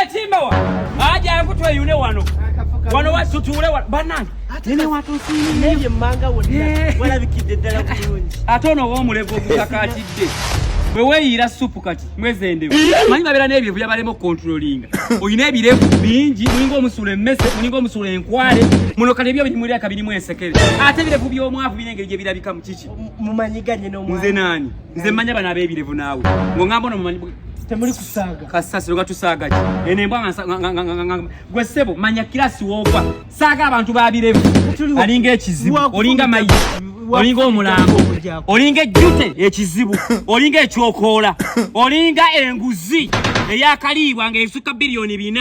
etimbawa eh, ajangu tweyune wano wano watutuule banange nene watusiinebye manga wonna walabikidde ddala bulungi ate ono w'omulevu ogukakatidde bwe weeyiira supu kati mwezendewo manyi babeera n'ebirevu yabalema okukontrolinga olina ebirevu bingi mulinga omusula emmese mulinga omusula enkwale muno kale ebyo birimuliraka birimu ensekere ate ebirevu by'omwavu biri engeri gye birabikamu kiki mumanyiganye nze naani nze manya bana bebirevu nawe ngongamba no mumanyi temuli kusaga kasasi loga tusaga ki ene mbwa nga gwe sebo manya kilasi wova saga abantu babirevu alinga ekizibu olinga mayi olinga omulango olinga ejjute ekizibu olinga ekyokoola olinga enguzi eyakaliibwa nga esuka biliyoni bina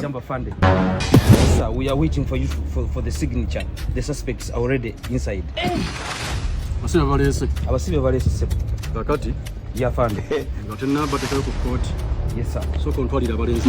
Jamba Fande. Sir, we are waiting for you for, for the signature. The suspects are already inside. Abasibe balese. Abasibe balese sebo. Kakati. Ya Fande. Ngate naba tekayo ku court. Yes sir. So kontwalira balese.